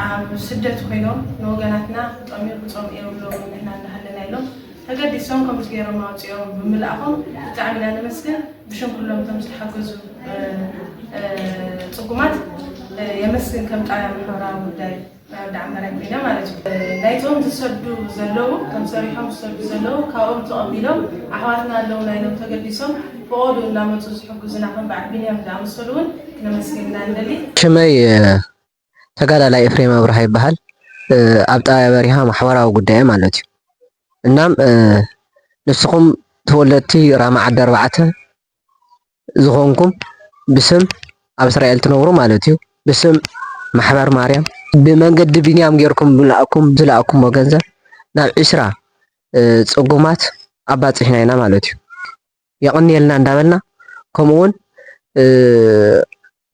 ኣብ ስደት ኮይኖም ንወገናትና ክጠምዩ ክጸምኡ የብሎምን ንሕና እንዳሃለና ኢሎም ተገዲሶም ከምዚ ጌሮም ኣውጺኦም ብምልኣኾም ብጣዕሚ ኢና ነመስግን ብሽም ኩሎም እቶም ዝተሓገዙ ጽጉማት የመስግን ከም ጣብያ ማሕበራዊ ጉዳይ ናይ ወዲ ዓመራይ ኮይነ ማለት እዩ ናይቶም ዝሰዱ ዘለዉ እቶም ሰሪሖም ዝሰዱ ዘለዉ ካብኦም ተቐቢሎም ኣሕዋትና ኣለውና ኢሎም ተገዲሶም ፈቖድኡ እንዳመጹ ዝሕግዙና ከም በዓል ቢንያም ዝኣመሰሉ እውን ክነመስግን ኢና ንደሊ። ከመይ ተጋዳላይ ኤፍሬም ኣብርሃ ይበሃል። ኣብ ጣብያ በሪሃ ማሕበራዊ ጉዳይ ማለት እዩ። እናም ንስኹም ተወለድቲ ራማ ዓዲ ኣርባዕተ ዝኾንኩም ብስም ኣብ እስራኤል ትነብሩ ማለት እዩ ብስም ማሕበር ማርያም ብመንገዲ ቢንያም ጌርኩም ዝለኣኩም ዝለኣኩሞ ገንዘብ ናብ ዒስራ ፅጉማት ኣባፂሕና ኢና ማለት እዩ። የቐንየልና እንዳበልና ከምኡ ውን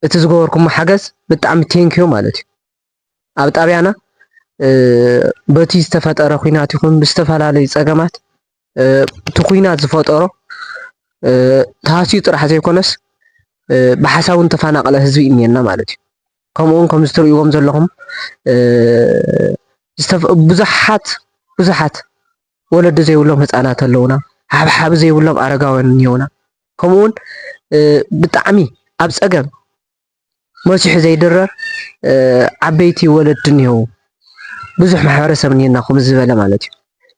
እቲ ዝገበርኩሞ ሓገዝ ብጣዕሚ ቴንኪዮ ማለት እዩ። ኣብ ጣብያና በቲ ዝተፈጠረ ኩናት ይኹን ብዝተፈላለዩ ፀገማት እቲ ኩናት ዝፈጠሮ ተሃስዩ ጥራሕ ዘይኮነስ ብሓሳብ ውን ተፈናቀለ ህዝቢ እኒኤና ማለት እዩ። ከምኡ ውን ከምዚ ትርእይዎም ዘለኹም ብዙሓት ብዙሓት ወለዲ ዘይብሎም ህፃናት ኣለውና፣ ሓብሓቢ ዘይብሎም ኣረጋውያን እኒኦና፣ ከምኡ እውን ብጣዕሚ ኣብ ፀገም መሲሑ ዘይድረር ዓበይቲ ወለዲ እኒሄው፣ ብዙሕ ማሕበረሰብ እኒሄና ከምዚ ዝበለ ማለት እዩ።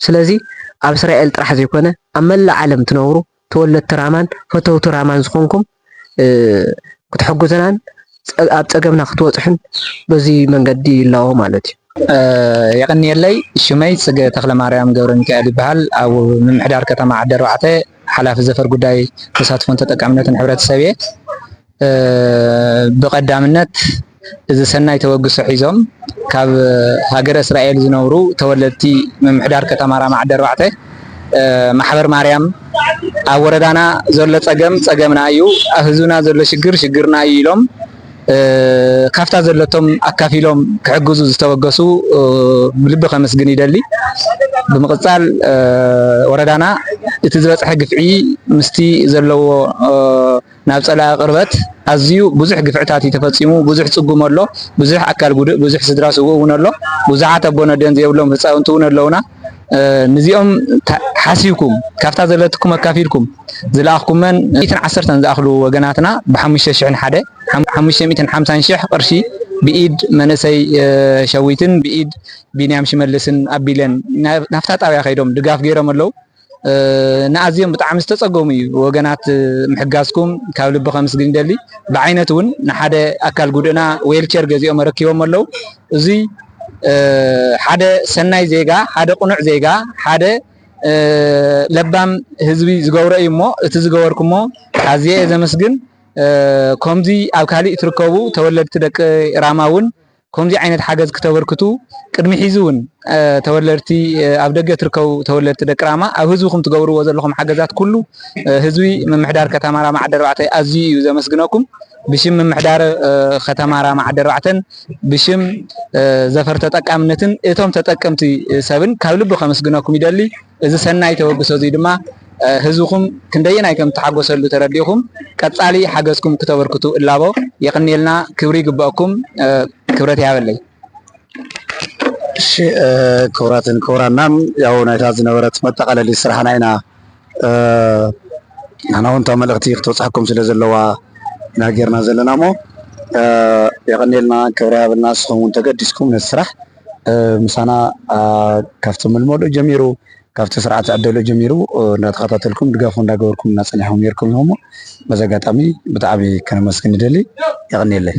ስለዚ ኣብ እስራኤል ጥራሕ ዘይኮነ ኣብ መላእ ዓለም ትነብሩ ተወለድቲ ራማን ፈተውቲ ራማን ዝኾንኩም ክትሕጉዙናን ኣብ ጸገምና ክትወጽሑን በዚ መንገዲ ይላዎ ማለት እዩ። የቐንየለይ ሽመይ ጽገ ተኽለማርያም ገብረሚካኤል ይበሃል ኣብ ምምሕዳር ከተማ ዓዲ ኣርባዕተ ሓላፊ ዘፈር ጉዳይ ተሳትፎን ተጠቃምነትን ሕብረተሰብ እየ። ብቐዳምነት እዚ ሰናይ ተበግሶ ሒዞም ካብ ሃገረ እስራኤል ዝነብሩ ተወለድቲ ምምሕዳር ከተማ ራማ ዓዲ ኣርባዕተ ማሕበር ማርያም ኣብ ወረዳና ዘሎ ፀገም ፀገምና እዩ፣ ኣብ ህዝብና ዘሎ ሽግር ሽግርና እዩ ኢሎም ካብታ ዘለቶም ኣካፊሎም ክሕግዙ ዝተበገሱ ብልቢ ከመስግን ይደሊ። ብምቕፃል ወረዳና እቲ ዝበፅሐ ግፍዒ ምስቲ ዘለዎ ናብ ጸላኢ ቅርበት ኣዝዩ ብዙሕ ግፍዕታት እዩ ተፈጺሙ ብዙሕ ጽጉም ኣሎ ብዙሕ ኣካል ጉድእ ብዙሕ ስድራ ስውእ ውን ኣሎ ብዙሓት ኣቦን ኣደን ዘየብሎም ህጻውንቲ ውን ኣለውና ንዚኦም ሓሲብኩም ካብታ ዘለትኩም ኣካፊልኩም ዝለኣኽኩመን ሚእትን ዓሰርተን ዝኣኽሉ ወገናትና ብሓሙሽተ ሽሕን ሓደ ሓሙሽተ ሚእትን ሓምሳን ሽሕ ቅርሺ ብኢድ መንእሰይ ሸዊትን ብኢድ ቢንያም ሽመልስን ኣቢለን ናብታ ጣብያ ከይዶም ድጋፍ ገይሮም ኣለው። ንኣዝዮም ብጣዕሚ ዝተጸገሙ እዩ ወገናት ምሕጋዝኩም ካብ ልቢ ከምስግን ይደሊ። ብዓይነት እውን ንሓደ ኣካል ጉዱእና ዌልቸር ገዚኦም ኣረኪቦሞ ኣለው። እዙይ ሓደ ሰናይ ዜጋ፣ ሓደ ቅኑዕ ዜጋ፣ ሓደ ለባም ህዝቢ ዝገብሮ እዩ እሞ እቲ ዝገበርኩሞ ኣዝየ እየ ዘመስግን። ከምዚ ኣብ ካሊእ እትርከቡ ተወለድቲ ደቂ ራማ እውን ኮምዚ ዓይነት ሓገዝ ክተበርክቱ ቅድሚ ሒዚ ውን ተወለድቲ ኣብ ደገ ትርከቡ ተወለድቲ ደቂ ራማ ኣብ ህዝብኩም ትገብርዎ ዘለኩም ሓገዛት ኩሉ ህዝቢ ምምሕዳር ከተማ ራማ ዓዲ ኣርባዕተ ኣዝዩ እዩ ዘመስግነኩም ብሽም ምምሕዳር ከተማ ራማ ዓዲ ኣርባዕተን ብሽም ዘፈር ተጠቃምነትን እቶም ተጠቀምቲ ሰብን ካብ ልቢ ከምስግነኩም ይደሊ። እዚ ሰናይ ተበግሶ እዙይ ድማ ህዝብኹም ክንደየናይ ከም እተሓጎሰሉ ተረዲእኹም ቀፃሊ ሓገዝኩም ክተበርክቱ እላቦ። የቕንየልና ክብሪ ይግበኣኩም ክብረት ይሃበለይ። እሺ ክቡራትን ክቡራናን ያው ናይታ ዝነበረት መጠቃለሊ ስራሕና ኢና ንሕና እውን እታ መልእክቲ ክትበፅሐኩም ስለ ዘለዋ ኢና ጌርና ዘለና እሞ የቀኒየልና ክብሪ ሃበልና ንስኩም እውን ተገዲስኩም ነቲ ስራሕ ምሳና ካብቲ ምልመሉ ጀሚሩ ካብቲ ስርዓት ዝዕደሎ ጀሚሩ እናተኸታተልኩም ድጋፍ እውን እናገበርኩም እናፀናሕኹም ነይርኩም ኢኹም እሞ በዚ ኣጋጣሚ ብጣዕሚ ከነመስግን ንደሊ የቐንየለይ።